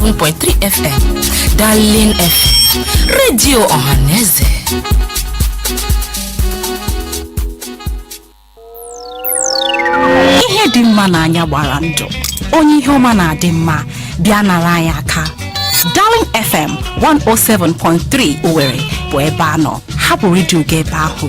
107.3 FM Darling FM redio ọhaneze ihe dị mma n'anya gbara ndụ onye ihe ọma na-adị mma bịa nara anyị aka Darling FM 107.3 Owerri bụ ebe a nọ hapụ redio gị ebe ahụ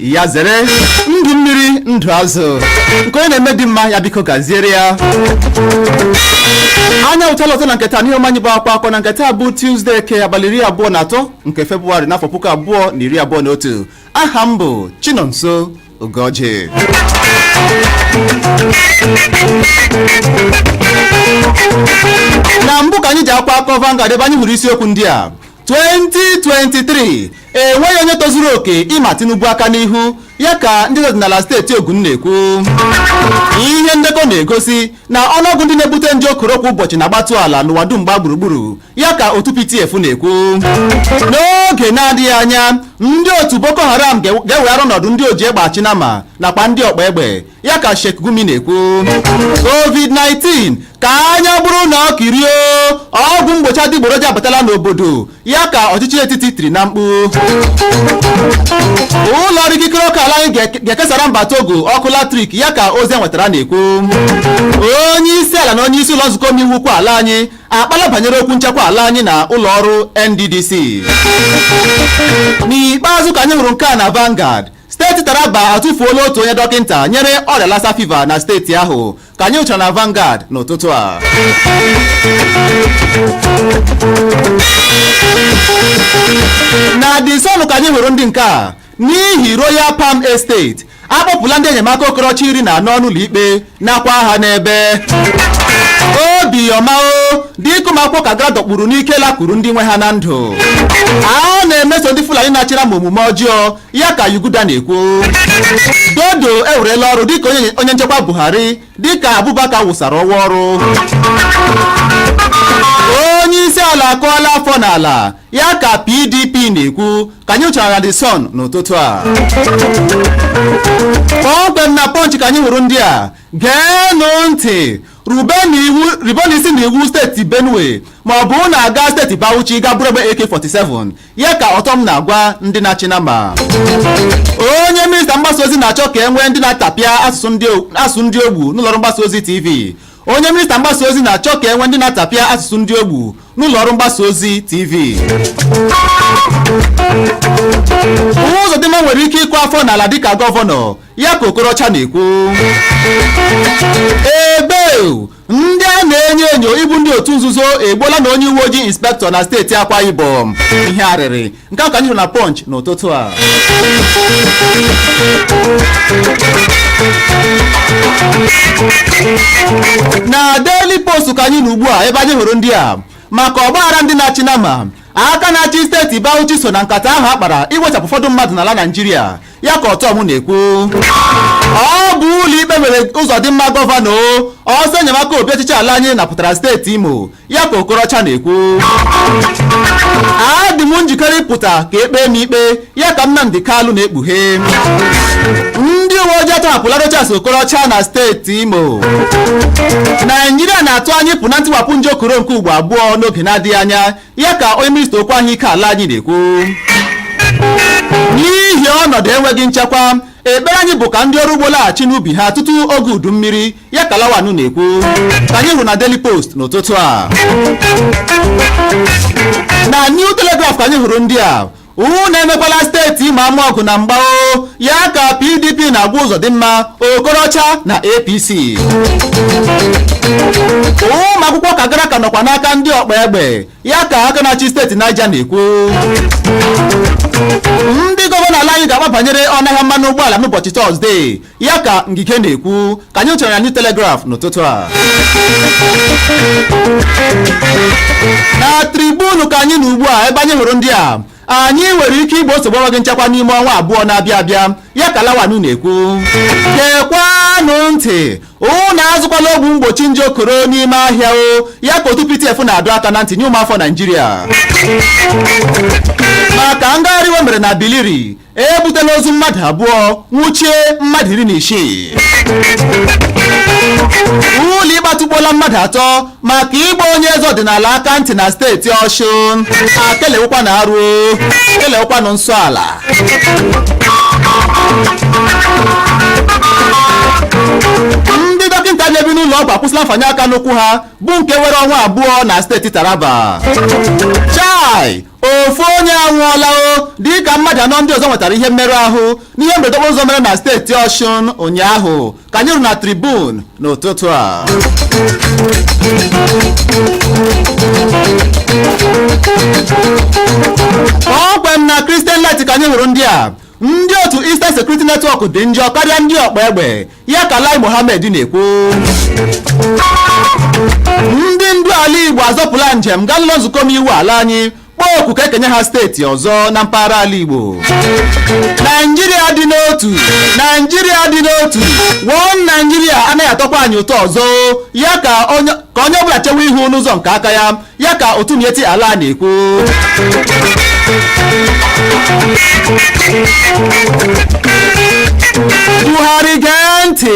ya zere ndụ mmiri ndụ azụ nke onye na-eme dị mma ya biko gaziere ya anyị apụtala ọzọ na nke taa n'ihe omume anyị bụ akwa akọ na nke taa bụ tuzdee ke abalị iri abụọ na atọ nke febụwarị n'afọ puku abụọ na iri abụọ na otu aha m bụ Chinonso Ugoji na mbụ ka anyị ji akwa akọ Vanguard ebe anyị hụrụ isiokwu ndị a 2023 enweghị onye tozuru oke ịma Tinubu aka n'ihu ya ka ndị ọdịnala steeti Ogun na-ekwu ihe ndekọ na-egosi na ọnụọgụ ndị na-ebute nje koro kwa ụbọchị na-agbatu ala n'ụwa dum gbaa gburugburu ya ka otu PTF na-ekwu n'oge na-adịghị anya ndị otu Boko Haram ga-eweghara ọnọdụ ndị oji egbe achị nama nakwa ndị ọkpa egbe ya ka Sheikh Gumi na-ekwu COVID-19 ka anya bụrụ na ọ kirie ọgwụ mgbochi adịgboroja abatala n'obodo ya ka ọchịchị etiti tiri na mkpu ụlọ ọrụ ikikere ọkụ ala anyị ga-ekesara mba Togo ọkụ latrik ya ka ozi e nwetara na-ekwu onye isi ala na onye isi ụlọ nzukọ omeiwu ukwu ala anyị akpaala banyere okwu nchekwa ala anyị na ụlọ ọrụ NDDC n'ikpeazụ ka anyị hụrụ nke a na Vanguard Steeti Taraba atụfuola otu onye dọkịnta nyere ọrịa Lassa fever na steeti ahụ ka anyị hụchara na Vanguard n'ụtụtụ a na The Sun ka anyị hụrụ ndị nke a n'ihi Royal Palm Estate akpọpụla ndị enyemaka Okorocha iri na anọ n'ụlọ ikpe nakwa ha n'ebe obiọma o dịka ụmụakwụkwọ Kagara a dọkpụrụ n'ike lakwuru ndị nwe ha na ndụ a na-emeso ndị Fulani na-achị nama omume ọjọọ ya ka Yuguda na-ekwu Dodo ewerela ọrụ dịka onye nchekwa Buhari dịka Abubakar wụsara ọwa ọrụ onye isi ala akụọla afọ n'ala ya ka PDP na-ekwu ka anyị hụchara na The Sun n'ụtụtụ a kpọmkwem na Punch ka anyị hụrụ ndị a geenụ ntị rubenụ iwu rubenụ isi na iwu steeti Benue ma ọ bụ unu agaa steeti Bauchi gaa buru egbe AK-47 ya ka Ortom na-agwa ndị na-achị nama onye minista mgbasa ozi na-achọ ka e nwee ndị na-atapịa asụsụ ndị o- asụsụ ndị ogbu n'ụlọọrụ mgbasa ozi tv onye minista mgbasa ozi na-achọ ka e nwee ndị na-atapịa asụsụ ndị ogbu n'ụlọọrụ mgbasa ozi tv Uzodimma nwere ike ịkụ afọ n'ala dịka gọvanọ ya ka Okorocha na-ekwu ebe ndị a na-enyo enyo ịbụ ndị otu nzuzo egbuola na onye uwe ojii inspektọ na steeti akwa ibom ihe arịrị nke a ka anyị hụrụ na punch n'ụtụtụ a na daily post ka anyị nọ ugbu a ebe anyị hụrụ ndị a maka ọgbaghara ndị na-achị nama aka na-achị steeti bauchi so na nkata ahụ a kpara iwechapụ ụfọdụ mmadụ n'ala naijiria ya ka ortom na-ekwu ọ bụ ụlọ ikpe mere ụzọdịmma gọvanọ ọsọ enyemaka obi ọchịchị ala anyị napụtara steeti imo ya ka okorocha na-ekwu adị m njikere ịpụta ka e kpee m ikpe ya ka nnamdi kalụ na-ekpughe ndị uwe ojii atọhapụla rochas okorocha na steeti imo naijiria na-atụ anya ịpụ na ntiwapụ nje okoro nke ugbo abụọ n'oge na-adịghị anya ya ka onye minista okwu ahụike ala anyị na-ekwu n'ihi ọnọdụ enweghị nchekwa ekpere anyị bụ ka ndị ọrụ ugbo laghachi n'ubi ha tutu oge udu mmiri ya ka lawan na-ekwu ka anyị hụrụ na Daily Post n'ụtụtụ a na New Telegraph ka anyị hụrụ ndị a unu emekwala steeti Imo ama ọgụ na mgba o ya ka PDP na-agwa Ụzọdịmma Okorocha na APC ụmụ akwụkwọ Kagara ka nọkwa n'aka ndị ọkpa egbe ya ka aka na-achị steeti Niger na-ekwu ndị gọvanọ ala anyị ga-akpa banyere ọnụahịa mmanụ ụgbọala n'ụbọchị tọzdee ya ka ngige na-ekwu ka anyị hụrụ na new telegraph n'ụtụtụ a na tribune ka anyị nọ ugbu a ebe anyị hụrụ ndị a anyị nwere ike igbo nsogbu enweghị nchekwa n'ime ọnwa abụọ na-abịa abịa ya ka lawan na-ekwu gekwanụ ntị ụnụ azụkwala ọgwụ mgbochi nje okoro n'ime ahịa o ya ka otu ptf na-adọ aka na ntị nye ụmụafọ naijiria maka ngagharị iwe mere na biliri ebutela ozu mmadụ abụọ nwụchie mmadụ iri na isii ụlọ ikpe atụkpọọla mmadụ atọ maka ịgba onye eze ọdịnala aka ntị na steeti ọshụn akelewekwa na arụ kelewekwa na nsọ ala ndị dọkịta na-ebi n'ụlọ ọgwụ akwụsịla mfanye aka n'ụkwụ ha bụ nke were ọnwa abụọ na steeti taraba chai ofu onye anwụọla o dịka mmadụ anọ ndị ọzọ nwetara ihe mmerụ ahụ n'ihe mberede okporo ụzọ mere na steeti ọshụn ụnyaahụ ka anyị hụrụ na tribune n'ụtụtụ a kpọmkwem na christian light ka anyị hụrụ ndị a ndị otu Eastern Security Network dị njọ karịa ndị ọkpa egbe ya ka Lai Mohammed na-ekwu ndị ndu ala Igbo azọpụla njem gaa n'ụlọ nzukọ omeiwu ala anyị kpọọ oku ka e kenye ha steeti ọzọ na mpaghara ala Igbo Naijiria dị n'otu Naijiria dị n'otu One Naijiria anaghị atọkwa anyị ụtọ ọzọ ya ka onye ọbụla chewe ihu n'ụzọ nke aka ya ya ka otu Miyetti Allah na-ekwu Buhari gee ntị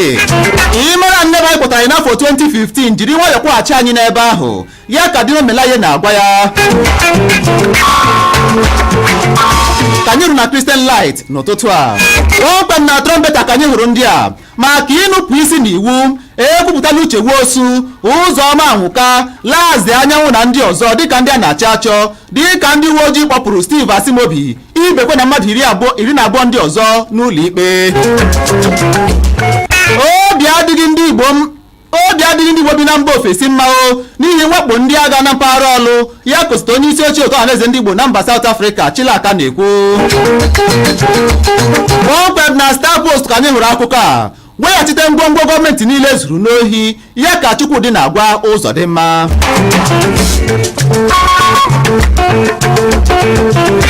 ị mara n'ebe ahụ ị kpọtara anyị n'afọ 2015 jiri nwayọọ kwọghachi anyị n'ebe ahụ ya ka Dino Melaye na-agwa ya ka anyị hụrụ na Christian Light n'ụtụtụ a kpọmkwem na Trumpeta ka anyị hụrụ ndị a maka ịnupụ isi n'iwu ekwupụtala uche nwosu ụzọma anwụka laz anyanwụ na ndị ọzọ dịka ndị a na-achọ achọ dịka ndị uwe ojii kpọpụrụ steve asimobi ibekwe na mmadụ iri na abụọ ndị ọzọ n'ụlọ ikpe obi adịghị ndị igbo m obi adịghị ndị Igbo bi na mba ofesi mma o n'ihi mwakpo ndị agha na mpaghara ọlụ ya ka osote onye isi oche otu ọhaneze ndị Igbo na mba South Africa Chilaka na-ekwu kpọmkwem na Star Post ka anyị hụrụ akụkọ a weghachite ngwongwo gọọmenti niile e zuru n'ohi ya ka Chukwudi na-agwa Ụzọdịmma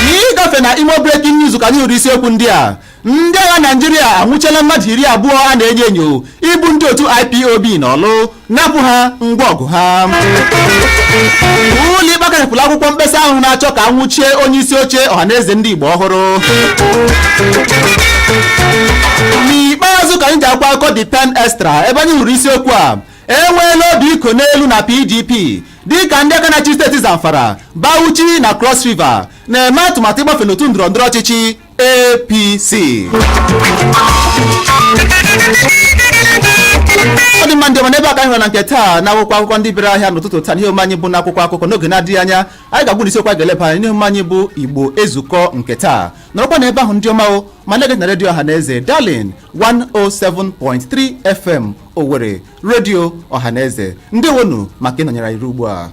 n'ịgafe na imo breaking news ka anyị hụrụ isiokwu ndị a ndị agha naijiria anwụchiela mmadụ iri abụọ a na-enyo enyo ịbụ ndị otu ipob n'ọlụ napụ ha ngwa ọgụ ha ụlọ ikpe akachapụla akwụkwọ mkpesa ahụ na-achọ ka a nwụchie onye isi oche ọhaneze ndị igbo ọhụrụ n'ikpeazụ ka anyị ji akwụkwọ akụkọ the pen extra ebe anyị hụrụ isiokwu a enweela obi ịkọ n'elu na pdp dịka ndị aka na-achị steeti zamfara bauchi na cross river na-eme atụmatụ ịgbafe n'otu ndọrọ ndọrọ ọchịchị APC ọ dị mma ndị ọma n'ebe a ka anyị hụrụ na nke taa na akwụkwọ akụkọ ndị bịara ahịa n'ụtụtụ taa n'ihe omume anyị bụ na akwụkwọ akụkọ n'oge na-adịghị anya anyị ga-agwa unu isi okwu anyị ga-eleba anya n'ihe omume anyị bụ igbo ezukọ nke taa nọrọkwa na ebe ahụ ndị ọma o ma na-ege ntị na redio ọha na eze darling 107.3 fm owere redio ọha na eze ndewonu maka ịnọnyere anyị ruo ugbu a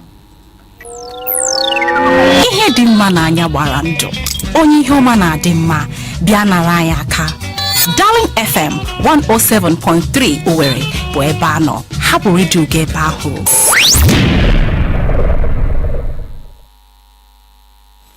ihe dị mma n'anya gbara ndụ onye ihe ọma na-adị mma bịa nara anyị aka Darling FM 107.3 Owerri bụ ebe a nọ hapụ redio gị ebe ahụ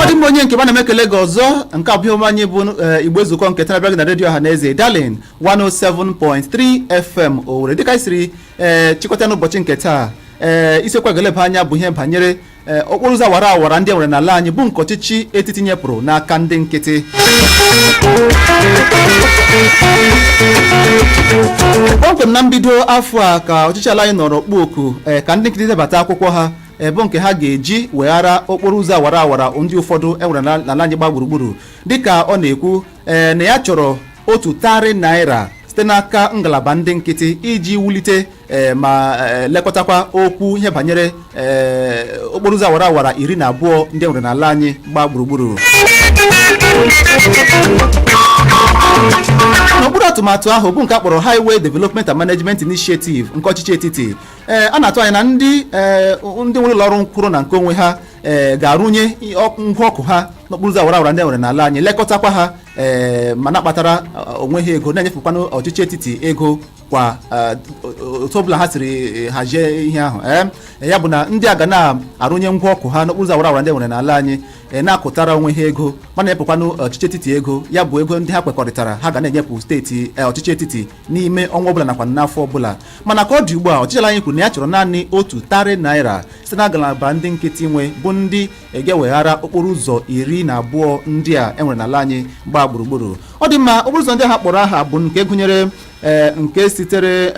ọ dị mma onye nke m ana m ekele gị ọzọ nke a bụ ihe omume anyị bụ eh, igbo ezukọ nke taa bịara gị na redio ọha na eze darling 107.3 fm owere dịka anyị siri eh, chịkọta n'ụbọchị nke taa ee isiokwu a ga-eleba anya bụ ihe banyere eh, okporo ụzọ awara awara ndị e nwere n'ala anyị bụ nke ọchịchị etiti nyepụrụ n'aka ndị nkịtị kpọmkwem na mbido afọ a ka ọchịchị ala anyị nọrọ kpọọ oku eh, ka ndị nkịtị debata akwụkwọ ha bụ nke ha ga-eji weghara okporo ụzọ awara awara ndị ụfọdụ enwere na- n'ala anyị gba gburugburu dịka ọ na-ekwu ee, na ya chọrọ otu tarị naira site n'aka ngalaba ndị nkịtị iji wulite ee, ma ee, lekọtakwa okwu ihe banyere ee, okporo ụzọ awara awara iri na abụọ ndị enwere n'ala anyị gba gburugburu n'okpuru atụmatụ ahụ bụ nke a kpọrọ highway development and management initiative nke ọchịchị etiti ee a na-atụ anya na ndị ee ndị nwere ụlọ ọrụ nkwụrụ na nke onwe ha ee ga-arụnye i- ọkụ- ngwa ọkụ ha n'okporo ụzọ awara awara ndị e nwere n'ala anyị lekọtakwa ha ee ma na-akpatara ọ, onwe ha ego na-enyefekwanụ ọchịchị etiti ego kwa eh, o- o- otu ọbụla ha siri eh, hazie ihe ahụ ee ya bụ na ndị a ga na-arụnye ngwa ọkụ ha n'okporo ụzọ awara awara ndị e nwere n'ala anyị ee na-akụtara onwe ha ego ma na-enyepụkwanụ ọchịchị etiti ego ya bụ ego ndị ha kwekọrịtara ha ga na-enyepụ steeti eh, ọchịchị etiti n'ime ọnwa ọbụla nakwa n'afọ ọbụla mana ka ọ dị ugbu a ọchịchị ala anyị kwuru na ya chọrọ naanị otu tarị naira site na ngalaba ndị nkịtị nwe bụ ndị ga-eweghara okporo ụzọ iri na abụọ ndị a enwere n'ala anyị gbaa gburugburu ọ dị mma okporo ụzọ ndị ha kpọrọ aha bụ nke gụnyere eh, nke sitere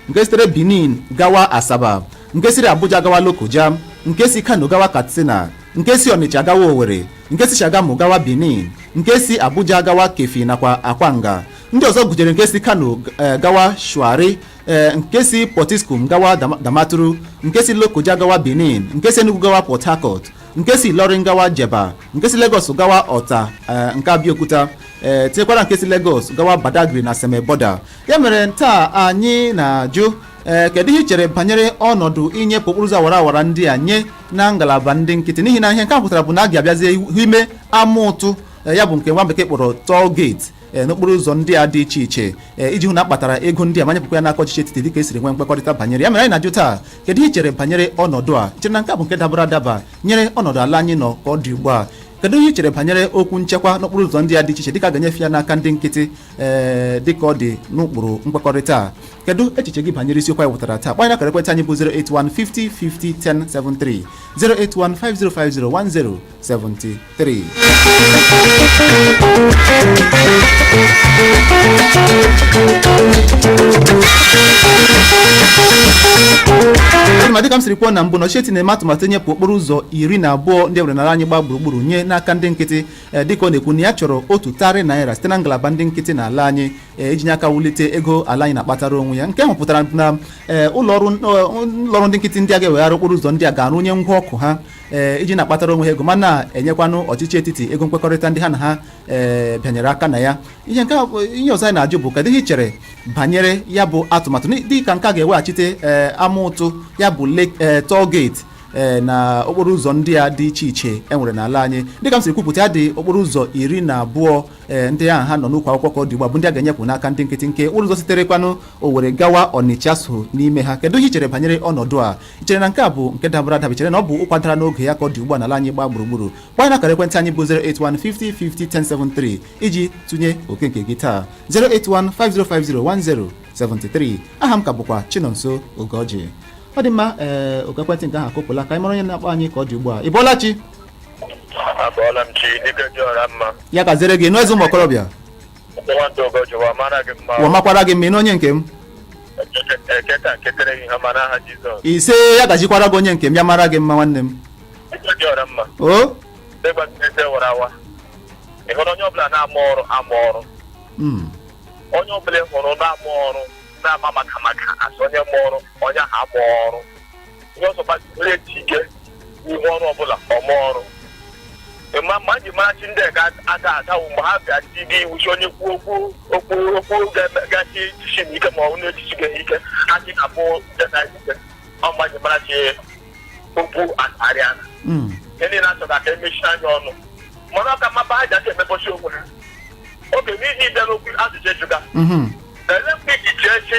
nke sitere benin gawa asaba nke siri abuja gawa lokoja nke si kano gawa katsina nke si ọnịcha gawa owere nke si shagamu gawa benin nke si abuja gawa keffi nakwa akwanga ndị ọzọ gụnyere nke si kano eh, gawa shuari eh, nke si potiskum gawa Dam- damaturu nke si lokoja gawa benin nke si enugu gawa port harcourt nke si ilorin gawa jebba nke si lagos gawa ota eh, nke abeokuta eh, tinyekwara nke si lagos gawa badagry na seme border ya mere taa anyị na-ajụ ee kedu ihe i chere banyere ọnọdụ inyepụ okporo ụzọ awara awara ndị a nye na ngalaba ndị nkịtị n'ihi na ihe nke a pụtara bụ na a ga-abịazie ime ama ụtụ eh, ya bụ nke nwa bekee kpọrọ toll gate Eh, n'okporo ụzọ ndị a dị iche iche eh, iji hụ na a kpatara ego ndị a ma nyepụkwa ya n'aka ọchịchị etiti dịka e siri nwee nkwekọrịta banyere ya mere anyị na-ajụ taa kedu ihe i chere banyere ọnọdụ a i chere na nke a bụ nke dabara adaba nyere ọnọdụ ala anyị nọ ka ọ dị ugbu a kedu ihe i chere banyere okwu nchekwa n'okporo ụzọ ndị a dị iche iche dịka a ga-enyefe ya n'aka ndị nkịtị ee eh, dịka ọ dị n'ụkpụrụ nkwekọrịta a kedu echiche gị banyere isiokwu anyị wetara taa kpọọ anyị n'akara ekwentị anyị bụ 081 50 50 1073 081 5050 1073 3. ma dịka m siri kwuo na mbụ na ọchịchị etiti na-eme atụmatụ nyepụ okporo ụzọ iri na abụọ ndị e nwere n'ala anyị gbaa gburugburu nye n'aka ndị nkịtị eh, dịka ọ na-ekwu na ya chọrọ otu tarị naira site na ngalaba ndị nkịtị na ala anyị eh, iji nye aka wulite ego ala anyị na-akpatara onwe ya nke ahụ pụtara na eh, ụlọ ọrụ ndị nkịtị ndị a ga-ewegharị okporo ụzọ ndị a ga-arụnye ngwa ọkụ ha ee eh, iji na-akpatara onwe ha ego ma na-enyekwanụ ọchịchị etiti ego nkwekọrịta ndị ha na ha ee eh, bịanyere aka na ya ihe nke ihe ọzọ anyị na-ajụ bụ kedu ihe i chere banyere ya bụ atụmatụ dị ka nke a ga-eweghachite ee eh, ama ụtụ ya bụ toll gate ee na okporo ụzọ ndị a dị iche iche e nwere n'ala anyị dịka m siri kwupụta ya dị okporo ụzọ iri na abụọ ee ndị ahụ ha nọ n'ụkwụ akwụkwọ ka ọ dị ugbu a bụ ndị a ga-enyepụ n'aka ndị nkịtị nke ụzọ siterekwanụ Owere gawa Ọnịcha so n'ime ha kedu ihe i chere banyere ọnọdụ a I chere na nke a bụ nke dabara adaba i chere na ọ bụ ụkwa dara n'oge ya ka ọ dị ugbu a n'ala anyị gbaa gburugburu gbanye n'akara ekwentị anyị bụ 08150501073 iji tụnye oke nke gị taa 08150501073 aha m ka bụkwa Chinonso Ogeọjị ọ dị mma ee oku ekwentị nke ahụ akụpụla ka anyị mara onye na-akpọ anyị ka ọ dị ugbu a ị bọọla chi Abọọla m chi dike dị ọra mma ya gaziere gị nụ eze ụmụ okorobịa ụwa makwara gị mma ị na onye nke m ise ya gazikwara gị onye nke m ya mara gị mma nwanne m o onye ọbụla hụrụ na-ama ọrụ na-ama maka maka asụ onye mma ọrụ onye ahụ ama ọrụ onye ọzọ gbazinye ji ike n'ihe ọrụ ọbụla ọma ọrụ ma ma ji marachi ndị ga aga agawo mgbe ha bịa ji gị iwuchi onye kwuo okwu okwu okwu ga- gachi echichi na ike ma ọ bụ na-echichi gị ike ha ji na bụ ndị na ike ọ ma ji marachi okwu akarịa Mm. ihe niile achọ ka emechie anya ọnụ mana ọ ka maba ha ji aka emebọchi onwe ha oge n'ihi ịbịa n'okwu ajụjụ ejuga Mhm. ele mgbe iji chee chi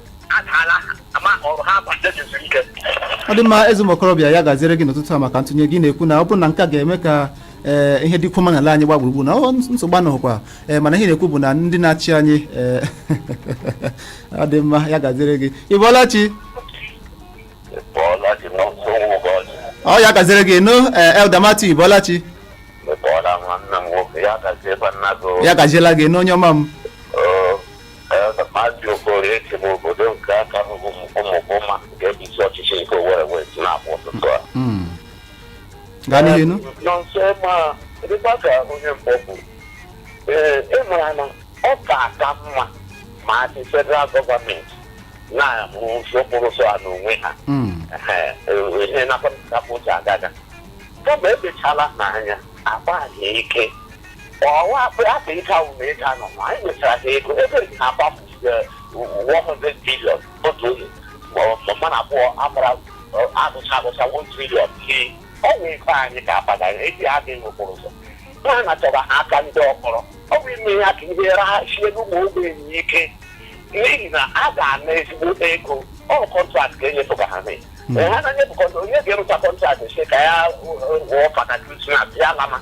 adaala ama ọrụ ha abalị ezuru ike ọ dị mma eze ụmụokorobịa ya gaziere gị n'ụtụtụ a maka ntụnye gị na-ekwu na ọ bụrụ na nke a ga-eme ka ee, ihe dịkwuo mma n'ala anyị gba gburugburu na nsogbu anọghịkwa ee, mana ihe na-ekwu bụ na ndị na-achị anyị ee, ọ dị mma ya gaziere gị ị bọọla chi bọọla dị n'ọsọ ụbọchị ọ ya gaziere gị nụ ee, Elder Matthew ị bọọla chi m bọọla nwanne m nwoke ya gazi ebe nna gị ya gaziela gị n'onye ọma m gaa n'ihu nụ nọnso ma dịkwa ka onye mbụ bụ ee ị mara na ọ ka aka mma ma a sị federal gọọmenti na-arụzi okporo ụzọ a n'onwe ha ihe na-akpapụta agaga kama ebechala n'anya agbaghị ike ọwa akpa akpa ịta ụmụ ịta nọ ma anyị nwetara ha ego ego eji ha agbapụ eh, 100 billion otu onye ma ọ- ma mmadụ abụọ agbara eh, agụcha agụcha 1 trillion iri ọ bụ ife anyị ka akpata eji adị n'okporo ụzọ ha nachọba ha aka ndị ọkpọrọ ọ bụ ime ya ka ihe raha sie n'ụmụ ogbenye ike n'ihi na a ga-ana ezigbo ego ọ bụ kọntraktị ka enyefe ka ha mee ha na-enye bụ kọntraktị onye ga-arụcha kọntraktị sị ka ya eh, wụọ fada krismas ya lama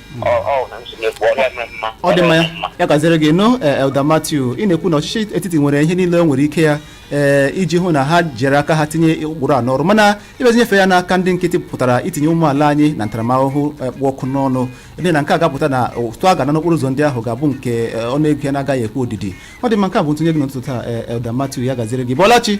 ọ dị mma ya ya gaziere gị nụ eh, Elder Matthew ị na-ekwu na ọchịchị etiti nwere ihe niile o nwere ike ya ee eh, iji hụ na ha jiri aka ha tinye ụkpụrụ a n'ọrụ mana ịbịazi nyefe ya n'aka ndị nkịtị pụtara itinye ụmụ ala anyị na ntaramahụhụ eh, kpụ ọkụ n'ọnụ ebe na nke a ga-apụta na ụtụ a ga-ana n'okporo ụzọ ndị ahụ ga-abụ nke ọnụ ego ya na-agaghị ekwe odidi ọ dị mma nke a bụ ntụnye gị n'ụtụtụ taa Elder Matthew ya gaziere gị Ị bọọla chi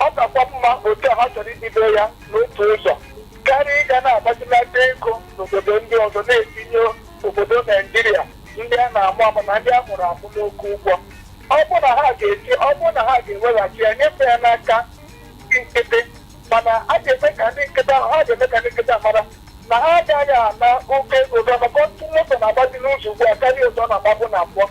ọ kakwa mma otu a ha chọrọ ibido ya n'otu ụzọ karịa ịga na-agbazinata ego n'obodo ndị ọzọ na-etinye obodo naijiria ndị a na-amụ amụ na ndị a mụrụ amụ n'oke ụgwọ ọ bụ na ha ga-eti ọ bụ na ha ga-eweghachi ya nyefee ya n'aka ndị nkịtị mana a ga-eme ka ndị nkịtị ahụ ha ga-eme ka ndị nkịtị ahụ mara na ha agaghị ana oke ego maka ọtụtụ moto na-agbazi n'ụzọ ugbu a karịa ụzọ ọ na-agbabu na mbụ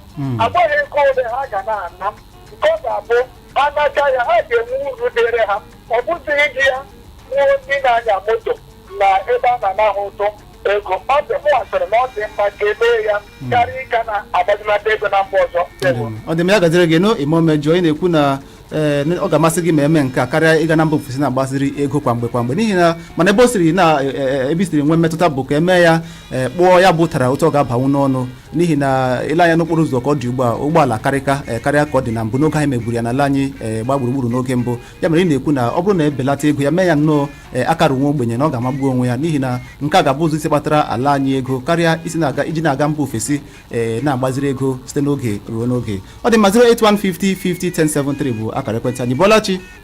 agbaghị ego ole ha ga na-ana nke ọ ga-abụ anacha ya ha ga-enwe uru dịrị ha ọ bụzighị iji ya gbuo ndị na-anya moto na ebe a na-ana ha ụtụ ego ọ dị mụ asịrị na ọ dị mma ka e mee ya karịa ịga na-agbazinata ego na mba ọzọ Ndewo. ọ dị mma ya gaziere gị nụ ime omejọ ị na-ekwu na ee, na ọ ga-amasị gị ma e mee nke a karịa ịga na mba ofesi na-agbaziri ego kwa mgbe kwa mgbe n'ihi na mana ebe o siri na e, e, ebe i siri nwee mmetụta bụ ka e mee ya e, kpụọ ya bụ ụtara otu ọ ga-abanwu n'ọnụ n'ihi na i lee anya n'okporo ụzọ ka ọ dị ugbu a ụgbọala karịka eh, karịa ka ọ dị na mbụ n'oge anyị meburu ya n'ala anyị eh, gba gburugburu n'oge mbụ ya mere ị na-ekwu na ọ bụrụ na e belata ego ya mee ya nnọọ eh, akara nwa ogbenye na ọ ga-amagbu onwe ya n'ihi na nke a ga-abụ ụzọ isi kpatara ala anyị ego karịa isi na-aga iji na-aga mba ofesi eh, na-agbaziri ego site n'oge ruo n'oge ọ dị mma 08150 50 1073 bụ akara ekwentị anyị bọọla chi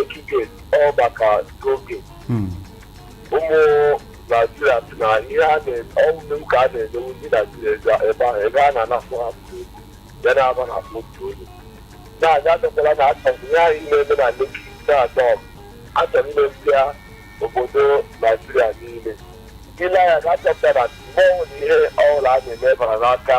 ekike ọba ka oge Hmm. ụmụ naijiria sị na ihe a na ọ wụ mmewu ka a na-emewu ndị naijiria ebe ebe ahụ ebe a na-anapụ ha ego ya na-aba n'akpa otu onye na-aga adọkwala na achọrọ ihe anyị na-eme na Lekki na-adọ ọgụ achọrọ imepịa obodo naijiria niile i lee anya ị ga-achọpụta na mgbe ọbụla ihe ọbụla a na-eme bara n'aka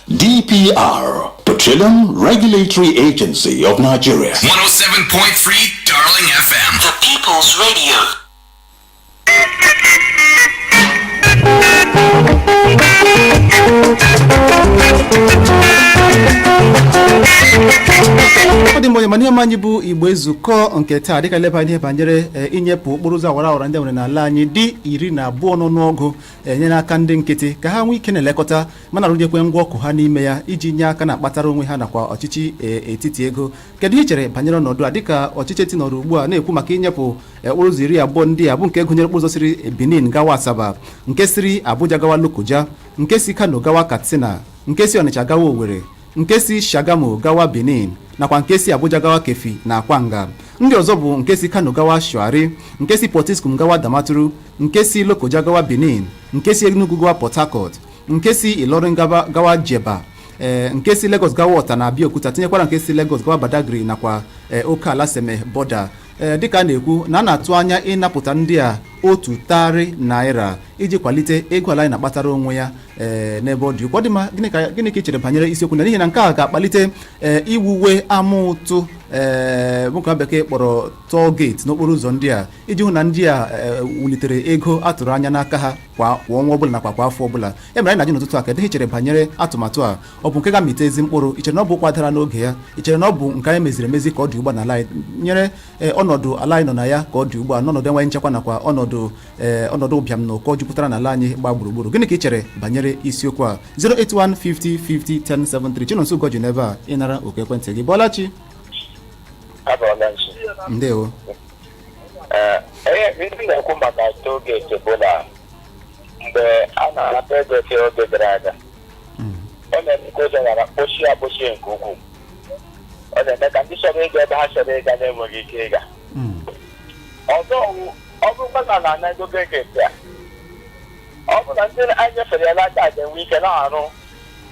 DPR, Petroleum Regulatory Agency of Nigeria. 107.3 Darling FM. The People's Radio. ọ dị mma onye ọma n'ihe omume anyị bụ Igbo Ezukọọ nke taa dịka leba n'ihe banyere e, inyepụ okporo ụzọ awara awara ndị e nwere n'ala anyị dị iri na abụọ n'ọnụọgụ enye n'aka ndị nkịtị ka ha nwee ike na-elekọta ma na-arụnyekwa ngwa ọkụ ha n'ime ya iji nye aka na-akpatara onwe ha nakwa ọchịchị e, etiti ego kedu ihe i chere banyere ọnọdụ a dịka ọchịchị etiti nọrọ ugbu a na-ekwu maka inyepụ e, okporo ụzọ iri na abụọ ndị a bụ nke gụnyere okporo ụzọ siri Benin gawa Asaba nke siri Abuja gawa Lokoja nke si Kano gawa Katsina nke si Ọnịcha gawa Owerri nke si Shagamu gawa Benin nakwa nke si Abuja gawa Keffi na Akwanga ndị ọzọ bụ nke si Kano gawa Shuari nke si Potiskum gawa Damaturu nke si Lokoja gawa Benin nke si Enugu gawa Port Harcourt nke si Ilorin gaba- gawa Jebba ee, nke si Lagos gawa Ọta na Abeokuta tinyekwara nke si Lagos gawa Badagry nakwa ee, oke ala Seme border ee, dịka a na-ekwu na a na-atụ anya ịnapụta ndị a otu tarị naira iji kwalite ego ala anyị na-akpatara onwe ya ee, n'ebe ọ dị ukwuu. Ọ dị mma gịnị ka gịnị ka ị chere banyere isiokwu a n'ihi na nke a ga-akpalite ee, iwuwe ama ụtụ ee nwoke bekee kpọrọ toll gate n'okporo ụzọ ndị a iji hụ na ndị a ee, wulitere ego a tụrụ anya n'aka ha kwa kwa ọnwa ọbụla nakwa kwa afọ ọbụla ya mere anyị na-ajụ n'ụtụtụ a kedu ihe i chere banyere atụmatụ a ọ bụ nke ga-amịta ezi mkpụrụ i chere na ọ bụ ụkwa dara n'oge ya i chere na ọ bụ nke anyị meziri emezi ka ọ dị ugbu a n'ala anyị nyere ee, ọnọdụ ala anyị nọ na ya ka ọ dị ugbu a n'ọnọdụ enweghị nchekwa nakwa ọnọdụ ee, ọnọdụ ụbịam na ụkọ jupụtara n'ala anyị gbaa gburugburu gịnị ka ị chere banyere isiokwu a 08150501073 Chinonso Ugoji n'ebe a ịnara oku ekwentị gị ị bọọla chi abọọla Nonso ndewo Ee, ihe m na-ekwu maka toll gate bụ na mgbe a na-ana toll gate oge gara aga ọ na-eme ka ụzọ ghara kpochie akpochie nke ukwuu ọ na-eme ka ndị chọrọ ịga ebe ha chọrọ ịga na-enweghị ike ịga ọzọ wụ, ọ bụrụkwa na a na-ana ego gate a ọ bụ na ndị anyị nyefere ya n'aka ga-enwe ike na-arụ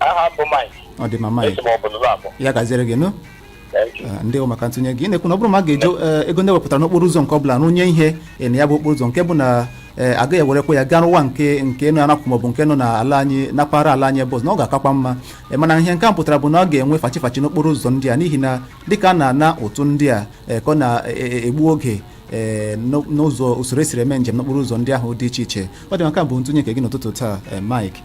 aha m bụ Mike ọ dị mma Mike esi m ọbụla ụlọ abụọ ya gaziere gị nụ Thank you. Eh, ndewo maka ntụnye gị ị na-ekwu na ọ bụrụ ma a ga-eji eh, ego ndị e wepụtara n'okporo ụzọ nke ọ bụla rụnye ihe eh, na ya bụ okporo ụzọ nke bụ na eh, agaghị ewerekwa ya gaa rụwa nke nke nọ anapụ maọbụ nke nọ na ala anyị na mpaghara ala anyị ebe ọzọ na ọ ga-akakwa mma Eh, mana ihe nke a pụtara bụ na ọ ga-enwe fachi fachi n'okporo ụzọ ndị a n'ihi na dịka a na-ana ụtụ ndị a eh, ka ọ na-egbu oge eh, n'o- n'ụzọ usoro e siri eme njem n'okporo ụzọ ndị ahụ dị iche iche ọ dị mma nke a bụ ntụnye nke gị n'ụtụtụ taa eh, Mike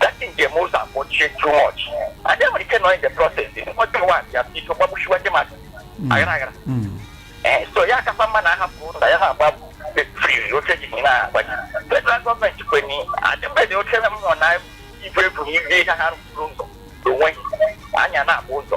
dati njem ụzọ akpọchie too much adị nwere ike nọ in the process ọjọ ụwa ya biko gbagbuchiwa ndị mmadụ aghara aghara Eh, so ya akakwa mma ma ahapụ ụzọ ya na-agba free oche ji na-agbaji federal gọọmenti kwenye adịmbeghị oche mmụọ na ibu ebu ibe ihe ha rụrụ ụzọ onwe anya na-agba ụzọ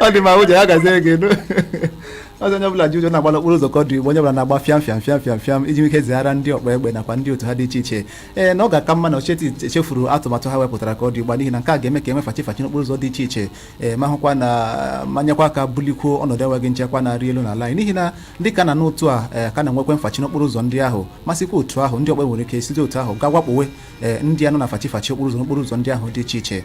ọ dị mma ụjọ ya gazie gị nụ ọzọ onye ọbụla ji ụjọ na-agba n'okporo ụzọ ka ọ dị ugbu a onye ọbụla na-agba fịam fịam fịam fịam fịam iji ike zighara ndị ọkpa egbe nakwa ndị otu ha dị iche iche ee na ọ ga-aka mma na ocheti echefuru atụmatụ ha wepụtara ka ọ dị ugbu a n'ihi na nke a ga-eme ka enwe mfachi mfachi n'okporo ụzọ dị iche iche ee ma hụkwa na ma nyekwa aka bulikwuo ọnọdụ enweghị nchekwa na-arị elu n'ala anyị n'ihi na ndị ka na n'otu a ee ka na-enwekwe mfachi n'okporo ụzọ ndị ahụ ma sikwa otu ahụ ndị ọkpa nwere ike site otu ahụ ga wakpowe ee ndị a nọ na mfachi mfachi okporo ụzọ n'okporo ụzọ ndị ahụ dị iche iche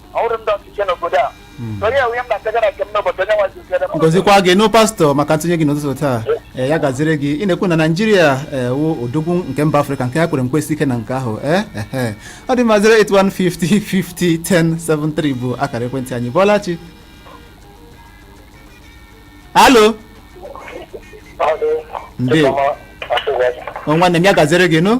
ọhụrụ ndị ọchịchị n'obodo a onye enwe ihe m na-akaja na nke m n'obodo onye nwazi ukere m ngozikwa gị nụ pastọ maka ntụnye gị n'ụtụtụ taa ee ya gaziri gị ị na-ekwu na naijiria ee wụ odogwu nke mba afrịka nke ya kwere nkwesi ike na nke ahụ ee ehe ọ dị mma 08150501073 bụ akara ekwentị anyị bọlachi alo Ndewo. O nwanne m ya gaziri gị nụ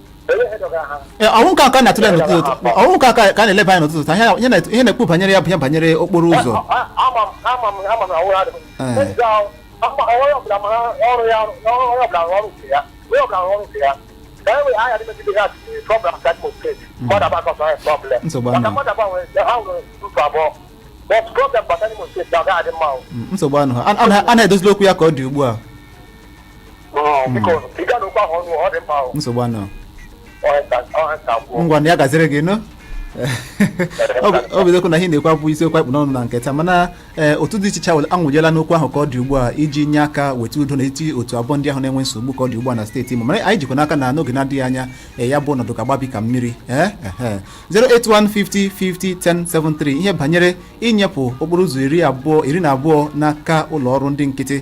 ọ wụ nke a ka a na-atụle n'ụtụtụ taa ọ wụ nke a ka a na-eleba anya n'ụtụtụ taa ihe na- ihe a na-ekwu banyere ya bụ ihe banyere okporo ụzọ Nsogbu ahụ. nsogbu ahụ a na-edozili okwu ya ka ọ dị ugbu a Mm, biko ị ga n'okwu ahụ ọnụ ọ dị mkpa ahụ nsogbu ahụ ngwa na ya gaziri gị nụ Ọ bụ- ọ bụ eziokwu na ihe ị na-ekwu abụ isiokwu a kpụ n'ọnụ na nke taa mana ee, otu dị iche iche awụla- awụjela n'okwu ahụ ka ọ dị ugbu a iji nye aka weta udo n'etiti otu abụọ ndị ahụ na-enwe nsogbu ka ọ dị ugbu a na steeti Imo mana anyị jikwa n'aka na n'oge na-adịghị anya ee, ya bụ ọnọdụ ga-agbabi ka mmiri ee, ehe. 08150501073 ihe banyere inyepụ okporo ụzọ iri abụọ iri na abụọ n'aka ụlọ ọrụ ndị nkịtị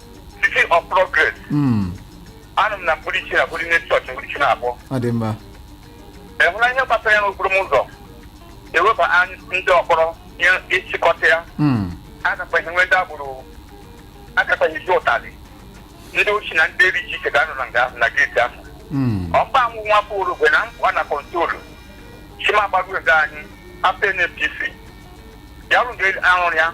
City of Progress Mm, anụ m na mkpụrụ iche na bụrụ ime chọọchị mkpụrụ iche na-abụ ọ dị mma ehụla ihe gbasara ya n'okporo ụzọ eweba anyị ndị ọkpọrọ nye ịchịkọta ya Mm, agakwaghị enwe ndị agboro agakwaghị eji ụtalị ndị ochi na ndị eri ji ike ga-anọ na nga na geeti ahụ mm, ọkpa anwụ nwa afọ orogwe na mkpụa na control chimagbaruo ga anyị afọ NPC ya rụrụ arụrụ ya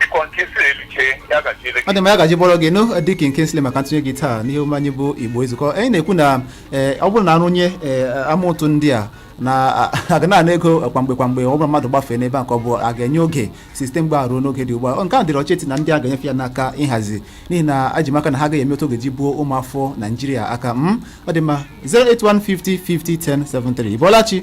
Biko nke si eluche ya gaziere gị. Ọ dị mma ya gaji bọrọ gị nụ dịka Kingsley maka ntụnye gị taa n'ihe omume anyị bụ Igbo Ezukọ anyị na-ekwu na eh, ọ bụrụ na a rụnye eh, ama ụtụ ndị a na a- a ga na-ana ego kwa mgbe kwa mgbe ọ bụrụ mmadụ gbafee n'ebe a ka ọ bụ a ga-enye oge site mgbe a ruo n'oge dị ugbu a Ọ, nke a dịrị ọchịchị na ndị a ga-enyefe ya n'aka ịhazi n'ihi na eji m aka na ha agaghị eme otu ọ ga-eji buo ụmụafọ Naijiria aka ọ dị mma 08150501073 ịbọlachi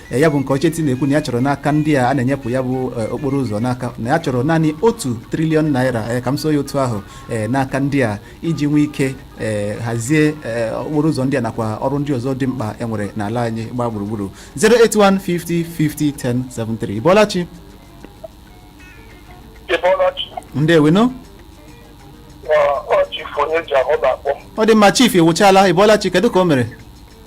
E, ya bụ nke ọchịchị na-ekwu na ya chọrọ n'aka ndị a a na-enyepụ ya bụ e, okporo ụzọ n'aka na ya chọrọ naanị otu triliọn naira e, ka m sụọ ya otu ahụ e, n'aka ndị a iji nwee ike e, hazie e, okporo ụzọ ndị a nakwa ọrụ ndị ọzọ dị mkpa e nwere n'ala anyị gbaa gburugburu 08150501073 Ịbọlachi ịbọlachi ndewo nụ ọ chief onye ji ahụ na-akpọ ọ dị mma chief Iwuchala ịbọlachi kedu ka o mere